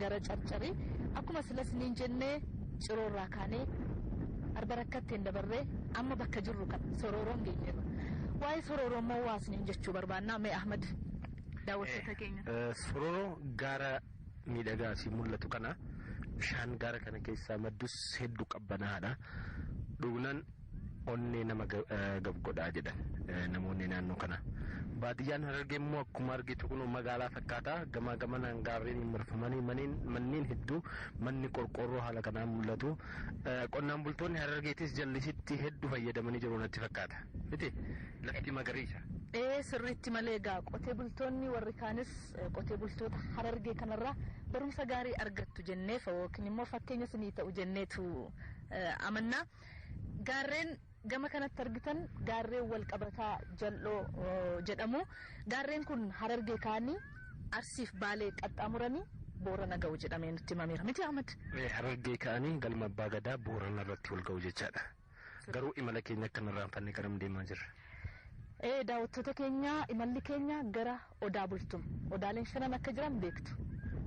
gara carcari akkuma sila siniin jenne ciroo irraa kaanee arba rakkatteen dabarree amma bakka jirru kan sorooroon geenyeerra waa'ee sorooroo immoo waa siniin jechuu barbaannaa mee ahmad daawwattoota keenya Sororoo gaara miidhagaa asii mul'atu kana bishaan gaara kana keessaa maddus hedduu qabbanaa'aadha. Dhugnaan Onnee nama gab godha jedhan namoonni naannoo kana. Baadiyyaan Harargee immoo akkuma argitu kunoo magaalaa fakkaata. Gamaa gamanaan gaarreeniin marfamanii maneen manneen hedduu manni qorqoorroo haala kanaan mul'atu. Qonnaan bultoonni Harargeetis jallisitti hedduu fayyadamanii jiru natti fakkaata. Miti lafti magariisa. Ee sirriitti malee egaa qotee bultoonni warri kaanis qotee bultoota Harargee kanarraa barumsa gaarii argattu jennee yookiin immoo fakkeenya isinii ta'u jenneetu amanna. Gaarreen gama kanatti argitan gaarreen walqabataa jal'oo jedhamu. Gaarreen kun Harargee ka'anii Arsiif Baalee qaxxaamuranii Boorana ga'u jedhamee nutti himameera. Mitii Ahmad? Harargee ka'anii galma Abbaa Gadaa Boorana irratti wal ga'u jechaadha. Garuu imala keenya akka hin irraanfanne garam deemaa jirra? Ee daawwattoota keenya imalli keenya gara Odaa Bultum. Odaaleen shanan akka jiran beektu.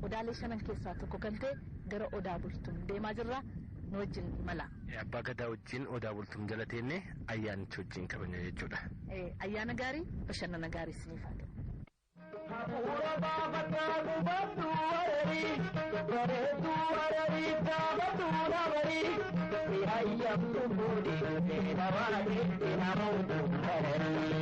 Odaalee shanan keessaa tokko kan ta'e gara Odaa Bultum deemaa jirra. Nu wajjin imalaa. Abbaa Gadaa wajjin Odaa Bultum jala teenne ayyaanicha wajjin kabajna jechuudha. Ayyaana gaarii, bashannana gaarii isiniif haa ta'u. Hafuura baafadhaa gubadhu wararii, bareedduu wararii dhaabatu dhabarii. Si hayyamtu fuudhi, si dhabaate, si namoota wararii.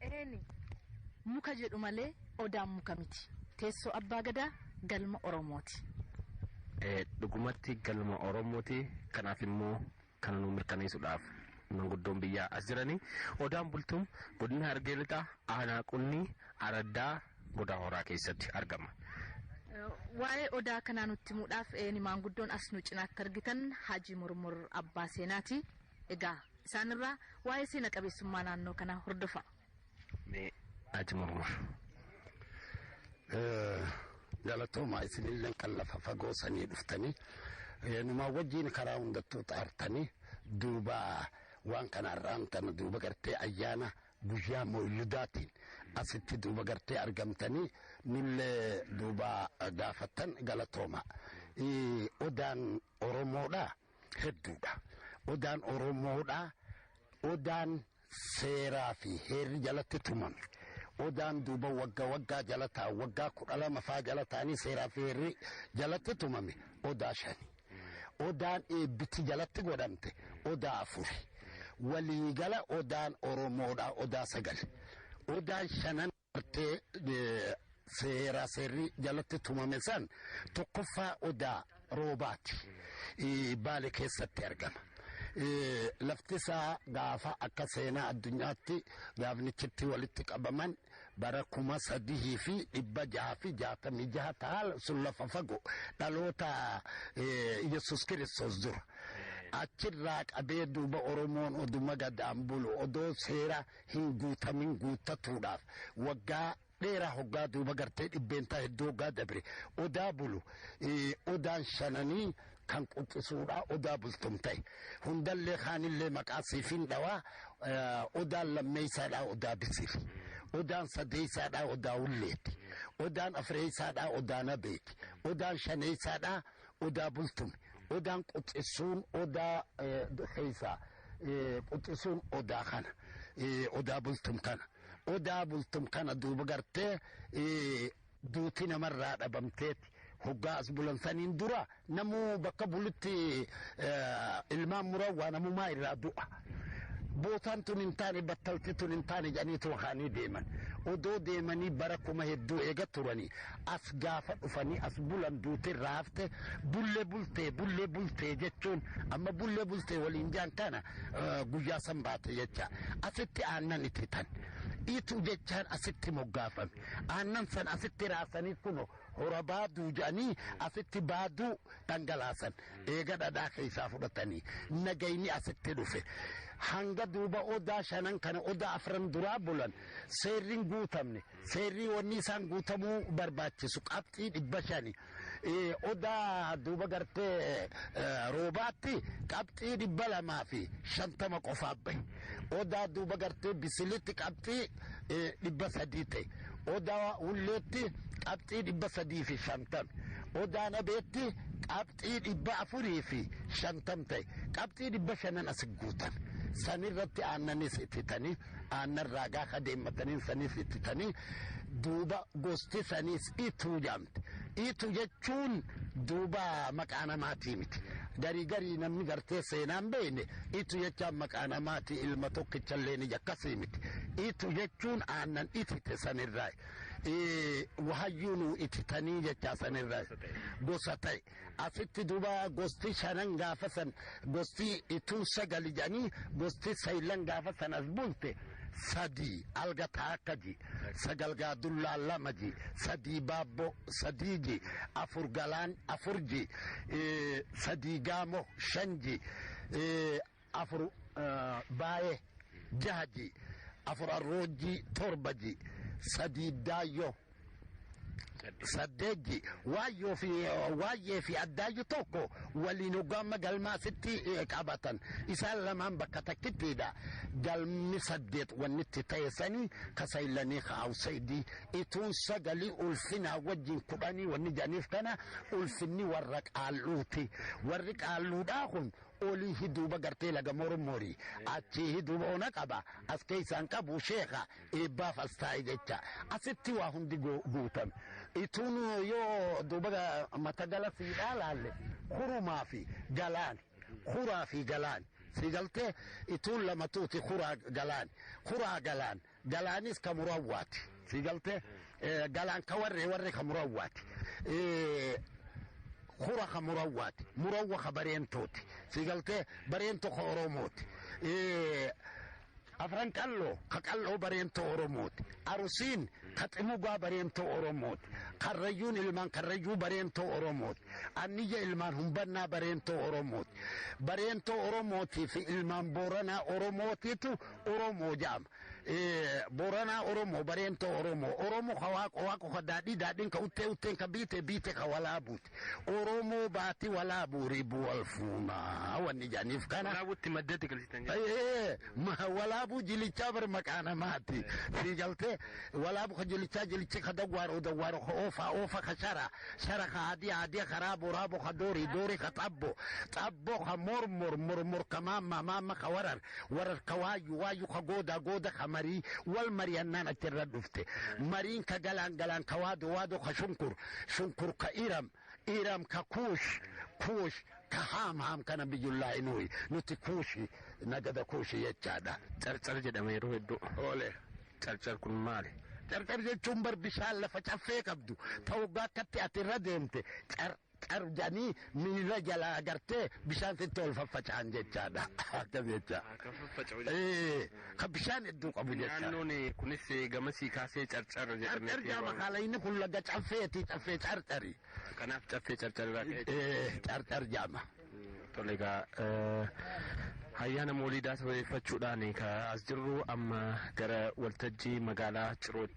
Eeni muka jedhu malee Odaan muka miti. Teessoo Abbaa Gadaa galma Oromooti. Dhugumatti galma Oromooti. Kanaaf immoo kana nuu mirkaneessuudhaaf manguddoon biyyaa as jiranii Odaan Bultum Godina Harargee Lixaa Aanaa Qunnii Araddaa Godaa Horaa keessatti argama. Waa'ee Odaa kanaa nutti himuudhaaf eeni maanguddoon as nu cinaatti argitan Haji Murmur Abbaa Seenaati. Egaa. Isaan irraa waa'ee seena qabeessummaa naannoo kanaa hordofaa. Mee Haji Mormor. Galatooma isinillee kan lafa fagoo sanii dhuftanii numaa wajjiin karaa hundattuu xaartanii duuba waan kana irraan tana duuba gartee ayyaana guyyaa mooyiludaatiin asitti duuba gartee argamtanii nullee duuba gaafattan galatooma. Odaan Oromoodhaa. hedduudha. Odaan Oromoodha. Odaan seeraa fi heerri jalatti tumame. Odaan duuba wagga waggaa jala ta'a. Waggaa kudha lama faa jala ta'anii seeraa fi heerri jalatti tumame. Odaa shani. Odaan eebbiti jalatti godhamte. Odaa afuri. Waliigala odaan Oromoodha. Odaa sagal. Odaan shanan. Bartee seeraa seerri jalatti tumame san tokkoffaa odaa roobaati baale keessatti argama. Lafti isaa gaafa akka seenaa addunyaatti gaafnichitti walitti qabaman bara kuma sadihii fi dhibba jaha fi jaatamii jaha taala sun lafa fagoo dhaloota Yesus Kiristoos dura. Achirraa qabee duuba Oromoon oduma gadaan bulu odoo seera hin guutamin guuttatuudhaaf waggaa dheeraa hoggaa duuba gartee dhibbeentaa hedduu hoggaa dabre odaa bulu odaan shananii kan quxisuudha odaa bultum ta'e hundallee kaanillee maqaa siifin dhawaa odaan lammeessaadhaa odaa bisiif odaan sadeessaadhaa odaa ulleeti odaan afreessaadhaa odaa nabeeti odaan shaneessaadhaa Odaa bultum. Odaan quxisuun odaa keessa quxisuun odaa kana odaa bultum kana odaa bultum kana duuba gartee duuti namarraa dhabamteeti hoggaa as bulan saniin dura namuu bakka bulutti ilmaan murawwaa namumaa irraa du'a. Bootaan tun hin taane battalti tun hin taane jedhaniituma ka'anii deeman. Odoo deemanii bara kuma hedduu eega turanii as gaafa dhufanii as bulan duuti irraa hafte bulle bultee bulle bultee jechuun amma bulle bultee waliin jaan kana guyyaa san baate jecha asitti aannan itti tan ituu jechaan asitti moggaafame aannan san asitti raasanii kuno hora baaduu jedhanii asitti baaduu dhangalaasan Eega dhadhaa keessaa fudhatanii nagayni asitti dhufe hanga duuba odaa shanan kana odaa afran duraa bulan seerriin guutamne seerrii wanni isaan guutamuu barbaachisu qabxii dhibba shani odaa duuba gartee roobaatti qabxii dhibba lamaa fi shantama qofaaf bahe odaa duuba gartee bisilitti qabxii 300 ta'e. Odaa Hulleetti qabxii 350. Odaa Nabeetti qabxii 450 ta'e. Qabxii 500n as guutan. Sanirratti aannanis ititanii aannan raagaa kadeemmataniin sanis ititanii duuba gosti sanis ituu jedhan. Iitu jechuun duuba maqaa namaatii miti. Garii garii namni gartee seenaan beeyne iitu jechaan maqaa namaatii ilma tokkichallee ni akkasii miti. Iitu jechuun aannan itite sanirraa wahayyuu nuu ititanii jechaa sanirraa gosa ta'e. Asitti duuba gosti shanan gaafa san gosti ituu sagali jedhanii gosti saylan gaafa san as bulte sadii alga taakka ji sagal gaa dullaa lama ji sadii baabbo sadii ji afur galaan afur ji sadii gaamo shan ji 4 Baayee 6 ji 4 Arroojjii 7 ji 3 Daayyoo 8 ji Waayyoo fi Waayyee fi Addaayyu tokko waliin hoggaamma galmaa sitti qabatan isaan lamaan bakka takkittiidha galmi saddeet wannitti ta'e sanii ka saylanii ka awsaydii ituun sagalii ulfinaa wajjin kudhanii wanni janiif kana ulfinni warra qaalluuti warri qaalluudhaa kun Olii hi duuba gartee laga mormori achii hi duuba ona qaba as keessaan qabu sheeka eebbaaf as taa'e jecha asitti waa hundi goo- guutame ituun yoo duuba ga- mata gala siidhaa laalle kurumaa fi galaani kuraa fi galaani si galtee ituun lamatuuti kuraa galaani kuraa galaan Galaanis ka murawwaati. Si galtee? Galaan ka warree warree ka murawwaati. Hura ka murawwaati. Murawwa ka bareentooti. Si galtee? Bareento ka Oromooti. Afran qalloo ka qalloo bareentoo Oromooti. Arusiin ka ximugaa bareentoo Oromooti. Karrayyuun ilmaan karrayyuu bareentoo Oromooti. Anniyya ilmaan humbannaa bareentoo Oromooti. Bareentoo Oromootii fi ilmaan Booranaa Oromootiitu Oromoo jaama. Booranaa Oromoo, Bareentoo Oromoo, Oromoo ka waaqo waaqo ka daadhii daadhiin ka uttee utteen ka biite biite ka walaabuuti. Oromoo baati walaabuu ribu wal fuunaa wanni jaaniif kana. Walaabuutti maddatti galchitan jechuudha. Walaabuu jilichaa bar maqaa namaati. Sii galtee walaabuu ka jilichaa jilichi ka dawwaaroo dawwaaroo ka oofaa oofa ka shara shara ka adii adii ka raaboo raaboo ka doorii doorii ka xabboo xabboo ka mormor mormor ka maamma maamma ka warar wararka waayyu waayyu ka goodaa gooda ka marii wal marihannaan achi irra dhufte mariin ka galaan galaan ka waado waado ka shunkur shunkur ka iram iram ka kuush kuush ka haam haam kana biyyullaa inuuyi nuti kuushi nagada kuushi jechaadha. Carcar jedhama yeroo hedduu. Oole. Carcar kun maali? Carcar jechuun bar bishaan lafa caffee qabdu ta waggaa akkatti ati irra deemte car qabdanii miila jalaa gartee bishaan sitti ol faffaca'an jechaadha. Akkas jecha. Kan faffaca'u jechuudha. Ee, kan bishaan hedduu qabu jecha. Naannoon eh, kunis eh, gamasii kaasee carcar Carcar jedhamee jaama kaala inni kun laga caffeeti caffee carcari. Kanaaf caffee carcar irraa ka'e. Ee, carcar jaama. Tole egaa eh, ayyaana mooliidaa sababeeffachuudhaan eh, ka as jirru amma gara waltajjii magaalaa Cirootti.